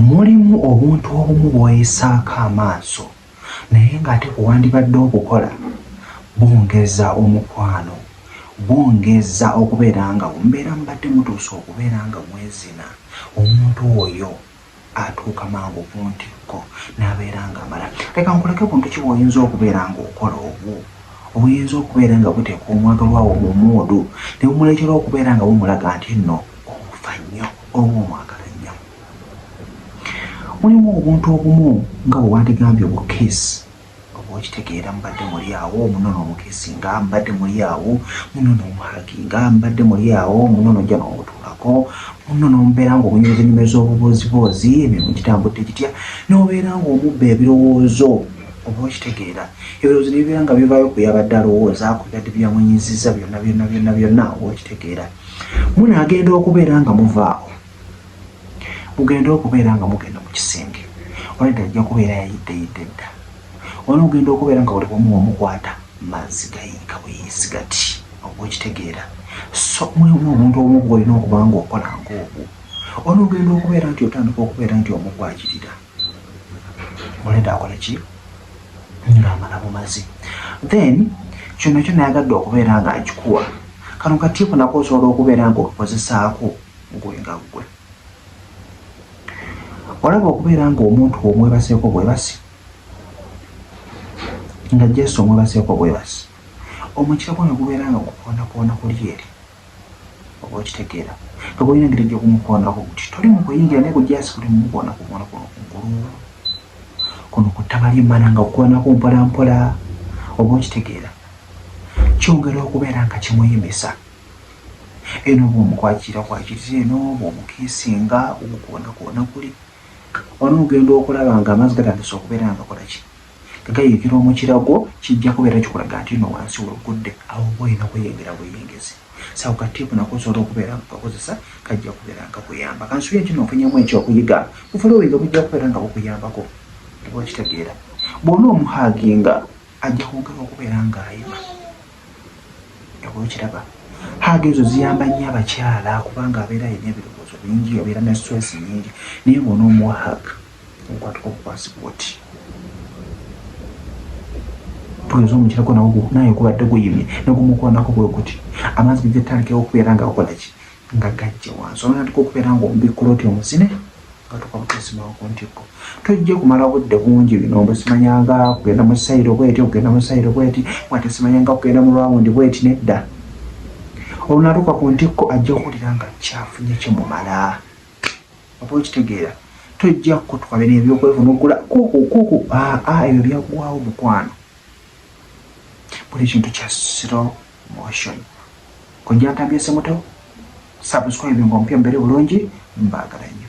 mulimu obuntu obumu bwoyesaako amaaso naye ng'ate kuwandibadde obukola bwongeza omukwano bwongeza okubeera nga mubeera mubadde mutuusa okubeera nga mwezina omuntu oyo atuuka mangu ku ntikko n'abeera nga amala leka nkuleke buntu ki bwoyinza okubeera ng'okola obwo obuyinza okubeera nga buteeka omwagalwawo mu muudu ne bumuleetera okubeera nga bumulaga nti nno omufa nnyo oba omwagala nnyo mulimu obuntu obumu nga bwe wandigambye obukeesi oba okitegeera mubadde muli awo munono obukeesi nga mubadde muli awo munono omuhagi nga mubadde muli awo munono ojja n'obutuulako munono omubeera nga obunyumiza enyumiro z'obubooziboozi emirimu gitambudde gitya n'obeera nga omubba ebirowoozo oba okitegeera ebirowoozo nebibeera nga bivaayo ku yabadde alowooza ku byadde byamunyiziza byonna byonna byonna byonna oba okitegeera munaagenda okubeera nga muvaawo mugenda okubeera nga mugenda mu kisenge olwedda ajja kubeera yayiddeyidde dda wali ogenda okubeera nga buli bumu omukwata mazzi gayiika buyisi gati okukitegeera so mulimu omuntu omu gwolina okuba nga okola ngaogwo olwogenda okubeera nti otandika okubeera nti omu gwakirira mulenda akole ki ng'amala bumazi then kyonna kyonna yagadde okubeera nga akikuwa kano katiiko nako osobola okubeera nga okozesaako gwe nga gwe olaba okubeera nga omuntu omwebaseeko bwebasi nga jesu omwebaseeko bwebasi omukira gwo ne gubeera nga gukoondakoona kuli eri oba okitegeera oba olina engeri gyokumukoonako kuti toli mukuyingira naye kujasi kuti mumukoona kukoona kuno kungulu kuno ku ttaba lyemmana nga kukoonako mpola mpola oba okitegeera kyongera okubeera nga kimuyimisa eno oba omukwakira kwakiriza eno oba omukiisinga omukoona koona kuli ono ogenda okulaba nga amazzi gatandisa okubeera nga kolaki Gagayirikira omukira gwo kijja kubeera kikulaga nti no wansi wegudde awo oba olina kweyengera bweyengezi sawo ka tipu nako osobola okubeera nga kakozesa kajja kubeera nga kuyamba kansuye nti nofunyamu ekyokuyiga bufolowiga bujja kubeera nga bukuyambako oba okitegeera bwona omuhaginga ajja kwongera okubeera nga ayima oba okiraba haga ezo ziyamba nnyo abakyala kubanga abeera alina ebirowoozo bingi abeera ne stress nyingi naye bwona omuwa haga okwatuka okukwasi bwoti tugenza omukirako nawo naye gubadde guyimye negumukwanako bwe guti amazzi gajja tandikewo okubeera nga okolaki nga gajja wansi olwanatuka okubeera nga omubikkula oti omuzine katuka butesimawo ku ntikko tojja kumala budde bungi bino mbu simanya nga kugenda mu sayiro bweti okugenda mu sayiro bweti mwate simanya nga kugenda mu lwawundi bweti nedda olunatuka ku ntikko ajja okuwulira nga kyafunye kimumala oba okitegeera tojja kukutuka bino ebyokwefuna okula kukukuku aa ah, ah, ebyo byaggwawo mukwano buli kintu kya slow motion kojja ntambye semuto subscribe nga omupya mubere bulungi mbaagala nnyo